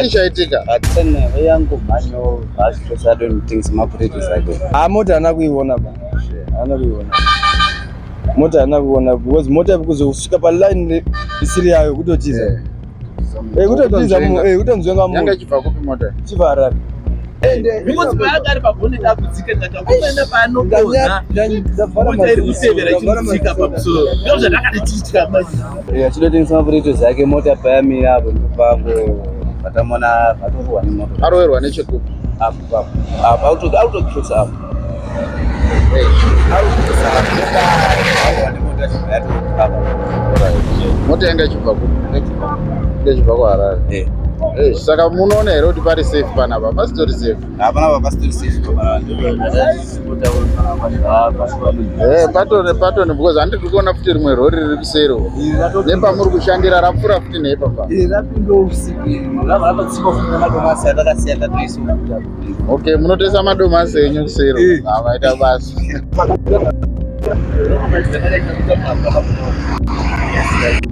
chii chaitika yangu mhanyo hazvitosadonitings mabridges ake ha mota ana kuiona ba ana kuiona mota haana kuona because mota kuzosvika paline isiri yayo kutotiza eh. eh, kutotiza eh, kutonzwenga munhu chibva harare ndakatitya achitotengesa mapureto zake mota payamira apo ndopango vatamona vatorwa nemota aroverwa nechekupi apo apo apo autokutotsa apo mota yanga ichibva kupi ndechibva kuharare eh. eh, saka munoona here kuti pari safe panapa pasitori safe hapana pa pasitori safe Eh, pato nepato because handi tiri kuona futi rimwe rori riri kuseri nepamuri kushandira rapfuura futi neipapa ok munotesa madomasi enyu kuseri eh. avaita ah, basa Thank you.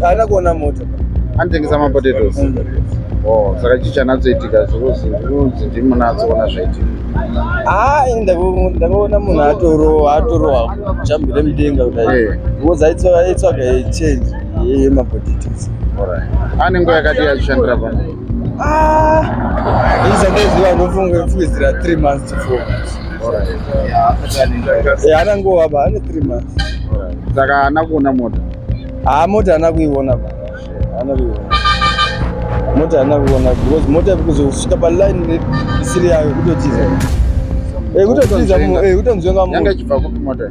haana kuona moto anotengesa mapotatoes mm. oh, saka chii chanatsoitika zvirunzi ndimi munatsoona zvaitika haa ah, ndakaona munhu atorowa atorowa jambi remudenga kudai because aitsvaga change yemapotatoes ane nguva yakati yachishandira pano Ah, izandoziva ndofunga kufukidzira 3 months to 4 months. Alright. Yeah, anangova ba ane 3 months. Alright. Saka haana kuona mota. Ah, mota haana kuiona ba. Haana kuiona. Mota haana kuona because mota kuzosvika pa line isiri yayo kutotiza. Eh kutotiza mu eh kutonzwenga mu. Yanga ichibva kupi mota?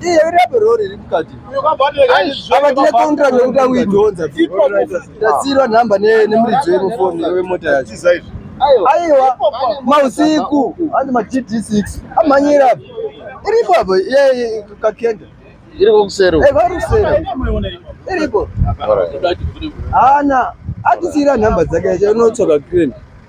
Iye uri apa rori iri mukati. Apa tine contract yekuti akuidhonza. Tasirwa number ne nemuridzo yemufoni wemota yacho. Aiwa mausiku andi ma GD6 amhanyira apa. Iripo apa iye kakenda. Iripo kusero. Eh vari kusero. Iripo. Ana atisira number dzake yacho unotsoka green.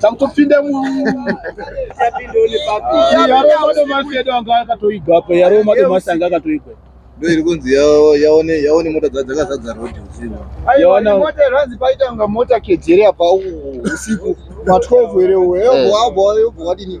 takutopinda muyaromadomasedu anga akatoigwa apa yaromadomasi anga akatoigwa ndo iri kunzi yaone yaone mota dzakazadza road usiku yaonamota iranzi paita kunga mota kedzere apa usiku ma12 ere uwe yobhoabhoa yobhoadini